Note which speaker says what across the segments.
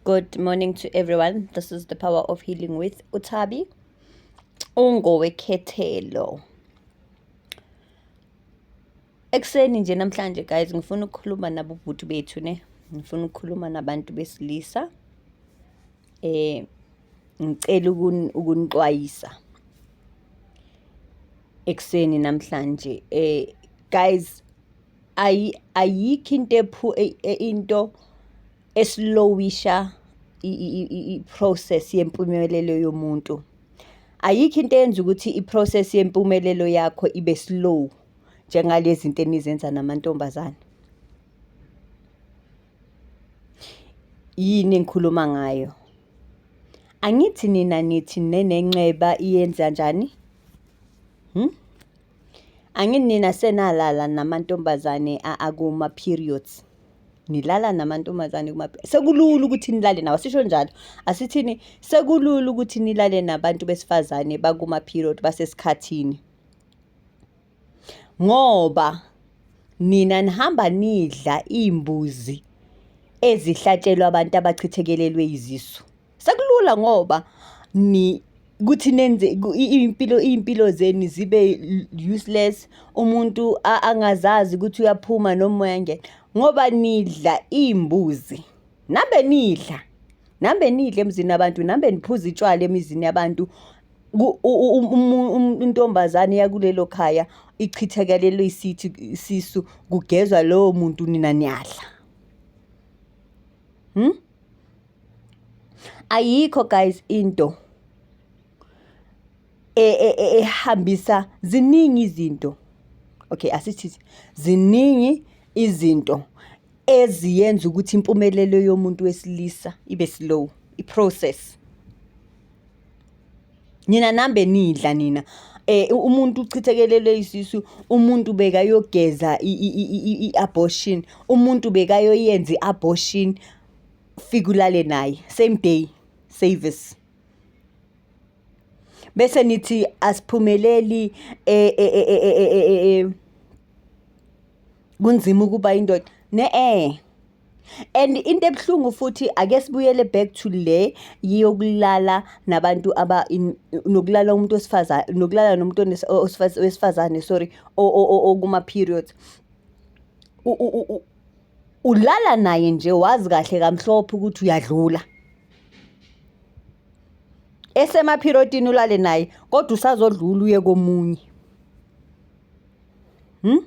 Speaker 1: Good morning to everyone. This is the power of healing with Utabi. Ungowekhethelo. Ekuseni nje namhlanje guys ngifuna ukukhuluma nabo bhuti bethu ne. Ngifuna ukukhuluma nabantu besilisa. Eh ngicela ukunixwayisa. Ekuseni namhlanje eh guys ayikho into ephu e, e, into esilowisha i-process yempumelelo yomuntu. Ayikho into eyenza ukuthi i-process yempumelelo yakho ibe slow njengalezi zinto enizenza namantombazane. Yini engikhuluma ngayo? Angithi nina nithi nenenxeba iyenza njani? Hmm? Angini nina senalala namantombazane akuma periods nilala namantombazane kuma sekulula ukuthi nilale nawo sisho njalo asithini sekulula ukuthi nilale nabantu besifazane bakuma period basesikhathini ngoba nina nihamba nidla imbuzi ezihlatshelwa abantu abachithekelelwe izisu Sekulula ngoba ni ukuthi nenze iy'mpilo iy'mpilo zenu zibe useless umuntu angazazi ukuthi uyaphuma noma uyangena ngoba nidla iy'mbuzi nambe nidla nambe nidla emzini yabantu nambe niphuza itshwala emizini yabantu intombazane yakulelo khaya ichithekelelwe isithi isisu kugezwa lowo muntu nina niyadla Hmm? Ayikho guys into e, e, e, ehambisa ziningi izinto. Okay, asithi ziningi izinto eziyenza ukuthi impumelelo yomuntu wesilisa ibe slow, i-process. nina nambe nidla nina eh umuntu uchithekelelwe isisu umuntu bekayogeza i-abortion umuntu bekayoyenza i-abortion fika ulale naye same day service bese nithi asiphumeleli eh, eh, eh, kunzima ukuba indoda ne-e and into ebuhlungu futhi ake sibuyele back to le yokulala nabantu aba nokulala umuntu osifazane nokulala nomuntu wesifazane sorry okuma periods ulala naye nje wazi kahle kamhlophe ukuthi uyadlula esemaphirotini ulale naye kodwa usazodlula uye komunye hmm?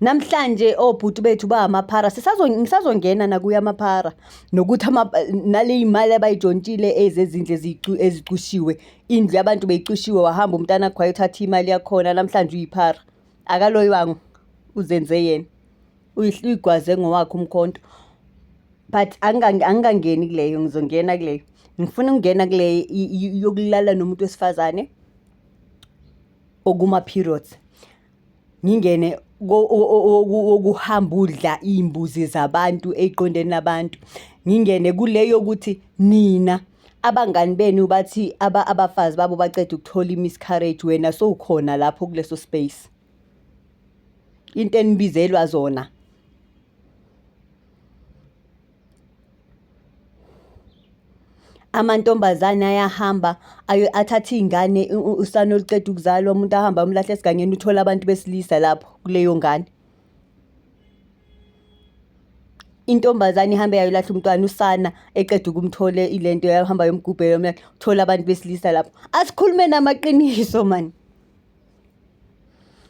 Speaker 1: namhlanje obhuti oh, bethu bangamaphara ngisazongena nakuyo amaphara nokuthi nale yimali abayijontshile ezezindlu ezicushiwe indlu yabantu beyicushiwe wahamba umntana khwaye uthatha imali yakhona namhlanje uyiphara akaloywango uzenze yena uyigwaze ngowakhe umkhonto but angikangeni kuleyo ngizongena kuleyo ngifuna ukungena kuleyo yokulala nomuntu wesifazane okuma periods ngingene wokuhamba udla iy'mbuzi zabantu ey'qondeni labantu ngingene kule yokuthi nina abangani benu bathi abafazi babo baceda ukuthola i-miscarriage wena sowukhona lapho kuleso space into enibizelwa zona amantombazane ayahamba athathe iy'ngane usana oluceda ukuzalwa umuntu ahambe amulahle esigangeni uthole abantu besilisa lapho kuleyo ngane. Intombazane ihambe yayolahla umntwana usana eqeda ukumthola ile nto yahamba yomgubhela uthole abantu besilisa lapho. Asikhulumeni amaqiniso mani.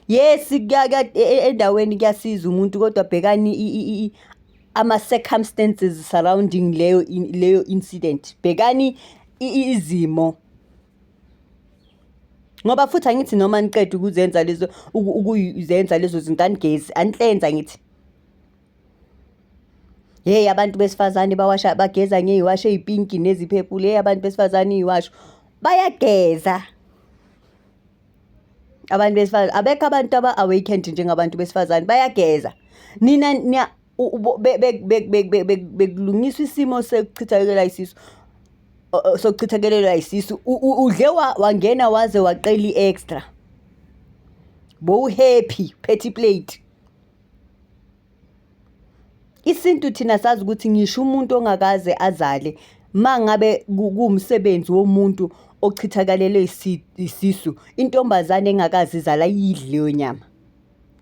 Speaker 1: Yes e, e, endaweni kuyasiza umuntu kodwa bhekani ama circumstances surrounding leyo leyo incident. Bhekani izimo ngoba futhi angithi noma niqeda ukuzenza lezo ukuzenza lezo zinto anigezi anihlenza ngithi hey abantu besifazane bawasha bageza ngey'washo ey'pinki neziphepule hey abantu besifazane iy'washo bayageza abantu besifazane abekho abantu aba-awakened njengabantu besifazane bayageza nina niya bekulungiswa isimo sekuchithakelwa isisu sokuchithakelelwa isisu udle wangena waze waqela i-extra bowuhappy phethe iplate Isintu thina sazi ukuthi ngisho umuntu ongakaze azale mangabe kuwumsebenzi womuntu ochithakalele isisu, intombazane engakaze izale ayidli leyo nyama.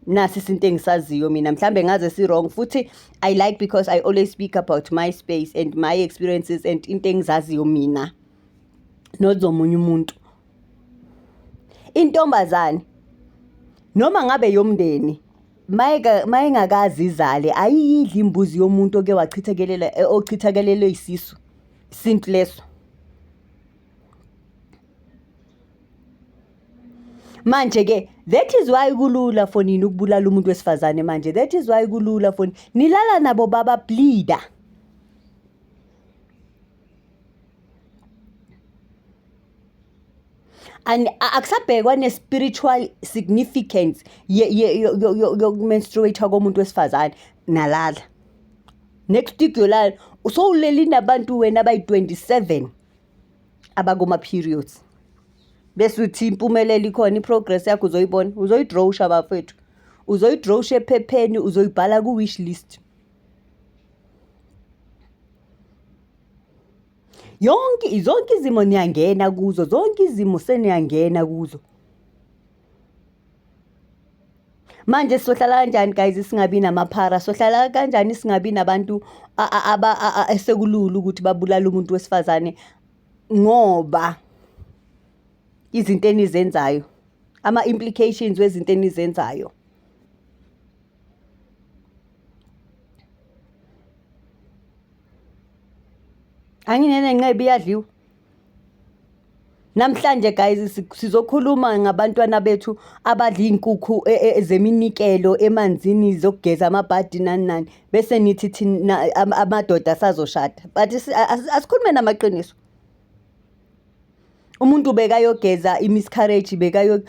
Speaker 1: Nasi isintu engisaziyo mina mhlambe ngaze si-wrong futhi I like because I always speak about my space and my experiences and into engizaziyo mina not zomunye umuntu. Intombazane noma ngabe yomndeni mayengakazi izale ayiyidli imbuzi yomuntu oke wachithakelela eh, ochithakelelwe isisu isintu leso manje ke that is why kulula for nini ukubulala umuntu wesifazane manje that is why kulula for nilala nabo baba bleeder akusabhekwa ne-spiritual significance yokumenstruate-a komuntu wesifazane nalala nekustudio lalo usowuleli nabantu wena abayi-27 abakuma-periods bese uthi impumelelo ikhona i-progress yakho uzoyibona uzoyidrowusha bafethu uzoyidrowusha ephepheni uzoyibhala ku-wish list yonke zonke izimo niyangena kuzo zonke izimo seniyangena kuzo manje sohlala kanjani guys singabi namaphara sohlala kanjani singabi nabantu esekulula ukuthi babulale umuntu wesifazane ngoba izinto enizenzayo ama-implications wezinto enizenzayo anginene nqebi iyadliwa namhlanje guys sizokhuluma ngabantwana bethu abadla iy'nkukhu e, e, e, zeminikelo emanzini zokugeza amabhadi nani nani bese nithi thina amadoda asazoshada but asikhulume namaqiniso umuntu bekayogeza imiscarriage bekayo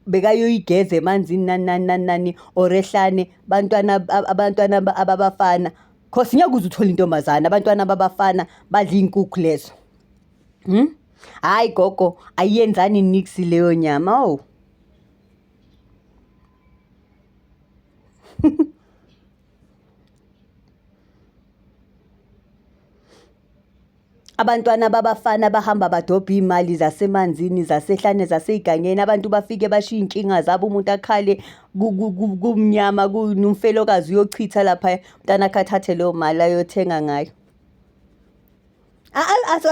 Speaker 1: bekayoyigeza emanzini nani nani nani nani or ehlane bantwana ab- abantwana ab- ababafana cause ngeke uze uthole intombazane abantwana babafana badla iy'nkukhu lezo hmm? hhayi gogo ayiyenzani nix leyo nyama o Abantwana babafana bahamba badobha iy'mali zasemanzini zasehlane zasey'gangeni abantu bafike bashiye iy'nkinga zabo umuntu akhale kumnyama kunomfelokazi uyochitha laphaya umntana akhe athathe leyo mali ayothenga ngayo.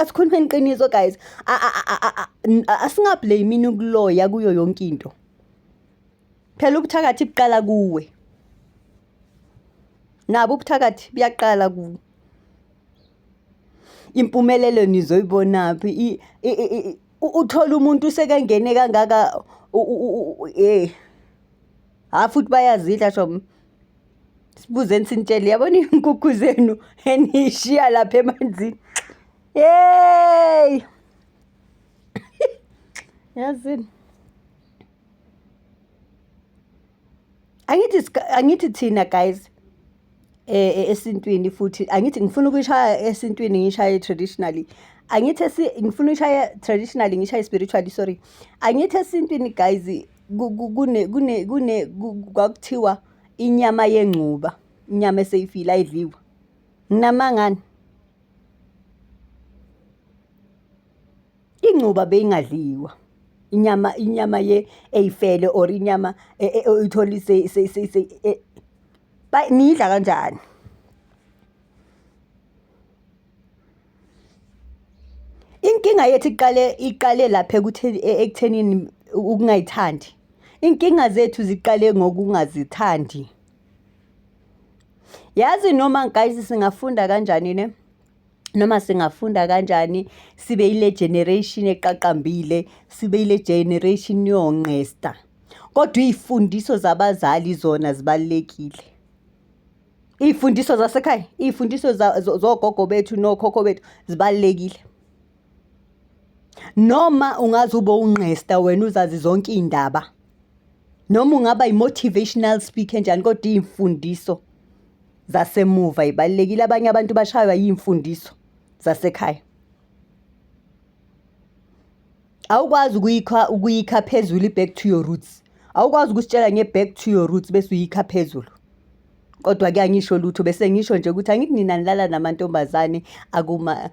Speaker 1: Asikhulumeni iqiniso guys asingablamini ukuloya kuyo yonke into. Phela ubuthakathi buqala kuwe. Nabo ubuthakathi buyaqala kuwe. Impumelelo nizoyibonaphi uthole umuntu usekengene kangaka hheyi. Hha futhi bayazidla shame. Sibuzeni sinitshele yabona iy'nkukhu zenu eniy'shiya lapha emanzini. Yeyi yazini. angithi angithi thina guys eh, eh esintwini futhi angithi ngifuna ukushaya esintwini ngishaye traditionally angithi esi ngifuna ukushaya traditionally ngishaye spiritually sorry angithi esintwini guys kune kune kune kwakuthiwa inyama yengcuba inyama eseyifile ayidliwa nginamangani Ingcuba beyingadliwa. Inyama inyama ye eyifele or inyama e, e, oyitholi se se se, se e, ba niyidla kanjani? Inkinga yethu iqale iqale lapha ekutheni e, ekuthenini ukungayithandi. Inkinga zethu ziqale ngokungazithandi. Yazi noma guys singafunda kanjani ne? noma singafunda kanjani sibe ile generation eqaqambile sibe ile generation yonqesta kodwa izifundiso zabazali zona zibalekile izifundiso zasekhaya izifundiso zogogo bethu nokhokho bethu zibalekile noma ungaze ube unqesta wena uzazi zonke iy'ndaba noma ungaba yi-motivational speaker njani kodwa iy'mfundiso zasemuva ibalulekile abanye abantu bashaywa yimfundiso zasekhaya awukwazi ukuyikha ukuyikha phezulu i-back to your roots awukwazi ukusitshela nge-back to your roots bese uyikha phezulu kodwa kuyangisho lutho bese ngisho nje ukuthi angithi nina nilala namantombazane akuma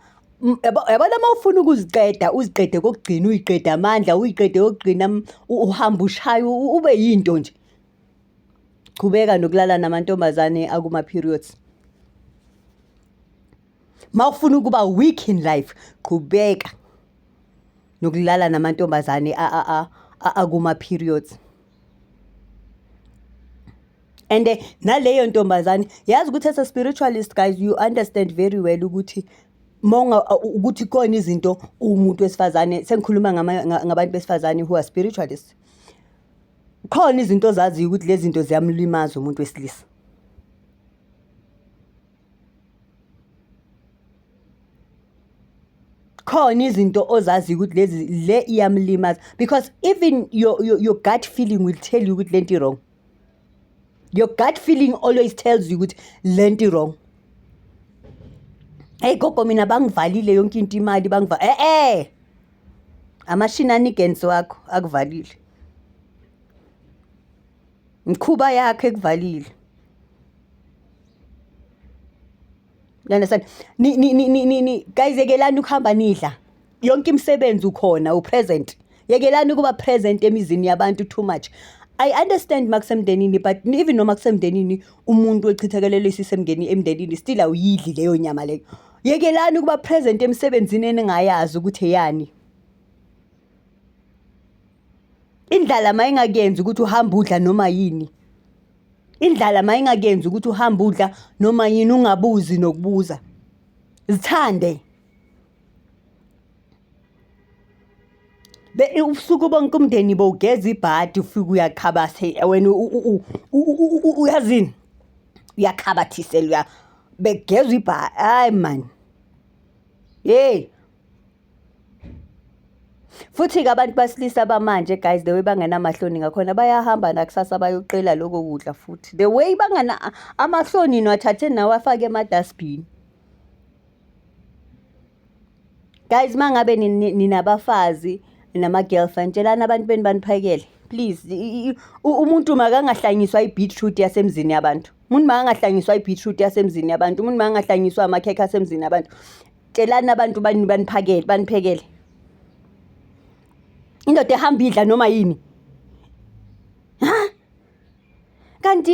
Speaker 1: yabona uma ufuna ukuziqeda uziqede kokugcina uyiqede amandla uyiqede kokugcina uhamba ushaya ube yinto nje Qhubeka nokulala namantombazane akuma periods. Mawufuna ukuba weak in life, qhubeka nokulala namantombazane a a a akuma periods and eh, naleyo ntombazane yazi ukuthi as a spiritualist guys you understand very well ukuthi monga ukuthi khona izinto umuntu wesifazane sengikhuluma ngabantu besifazane who are spiritualists Khona izinto ozaziyo ukuthi lezi zinto ziyamlimaza umuntu wesilisa. Khona izinto ozaziyo ukuthi lezi le iyamlimaza because even your, your, your gut feeling will tell you ukuthi lento i-wrong. Your gut feeling always tells you ukuthi lento i-wrong. Hey gogo mina bangivalile yonke into imali bangiva eh eh amashini anigensi wakho akuvalile mkhuba yakhe ekuvalile you understand ni ni ni ni ni guys yekelani ukuhamba nidla yonke imisebenzi ukhona upresent yekelani ukuba present emizini yabantu too much I understand makusemndenini but even noma kusemndenini umuntu echithakelele isisemngeni emndenini still awuyidli leyo nyama leyo Yekelani ukuba present emsebenzini eningayazi ukuthi eyani. Indlala mayingakuyenzi ukuthi uhambe udla noma yini. Indlala mayingakuyenzi ukuthi uhambe udla noma yini ungabuzi nokubuza. Zithande. ubusuku bonke umndeni bowugeza ibhadi ufike uyakhabase wena uyazini uyakhabathise luya begezwa ibhadi hayi mani yeyi futhi-ke abantu basilisa bamanje guys the way bangenamahloni ngakhona bayahamba nakusasa bayoqela loko kudla futhi the way bangana amahloni niwathathe nawe afake emadasbhini Guys mangabe ninabafazi nama girlfriend tshelani abantu beni baniphakele please umuntu makangahlanyiswa i-beetroot yasemzini yabantu umuntu makangahlanyiswa i-beetroot yasemzini yabantu umuntu makangahlanyiswa amakhekhe asemzini yabantu tshelani abantu baniphakele baniphekele indoda ehamba idla noma yini ha kanti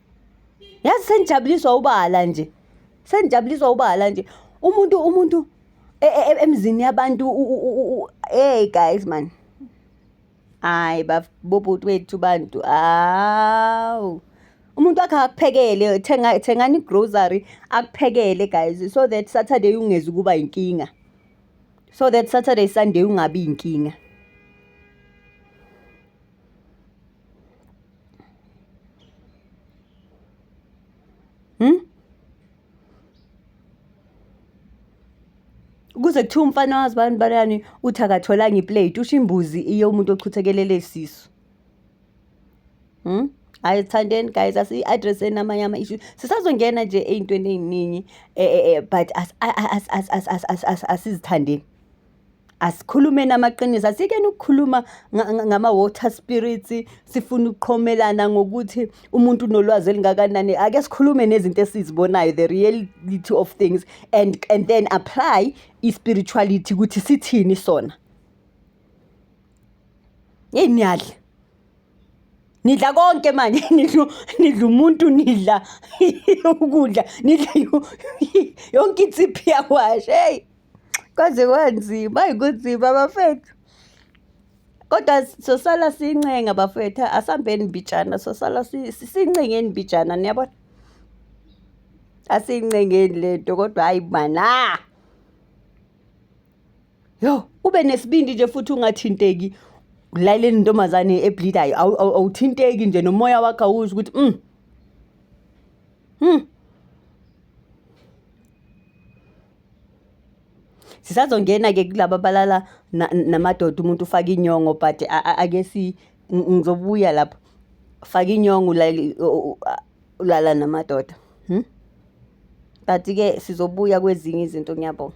Speaker 1: yazi senijabuliswa ubala nje senijabuliswa ubala nje umuntu umuntu e, e, e, emzini yabantu hey guys man hayi babobhuti wethu bantu awu umuntu wakhe akuphekele thenga thengani grocery akuphekele guys so that saturday ungezi kuba inkinga so that saturday sunday ungabi inkinga Hmm? Kuze kuthiwa umfana wazi bani balani uthi akatholanga iplate usho imbuzi iyo umuntu ochuthekelele isisu. Hmm? hayi sithandeni guys asi-addresseni amanye ama-issue sisazongena nje ey'ntweni ey'ningi um but asizithandeni asikhulumeni amaqiniso asikeni ukukhuluma ngama-water spirits sifuna ukuqhomelana ngokuthi umuntu unolwazi elingakanani ake sikhulume nezinto esizibonayo the reality of things and, and then apply i-spirituality ukuthi sithini sona yeyi niyadla nidla konke manje nidla nidla umuntu nidla ukudla nidla yonke insiphi yakwashe heyi Kwaze kwanzima, ayi kunzima bafethu. Kodwa sosala sincenga bafethu, asambeni mbijana, sosala sincengeni mbijana niyabona? Asincengeni le nto kodwa hhayi mana. Yo, ube nesibindi nje futhi ungathinteki laleli ntombazane ebleedayo awuthinteki nje nomoya wakho awusho ukuthi mm. Hmm. Sisazongena-ke kulaba abalala namadoda umuntu ufaka inyongo but ake si ngizobuya lapho. Faka inyongo ulala namadoda. But-ke sizobuya kwezinye izinto ngiyabonga.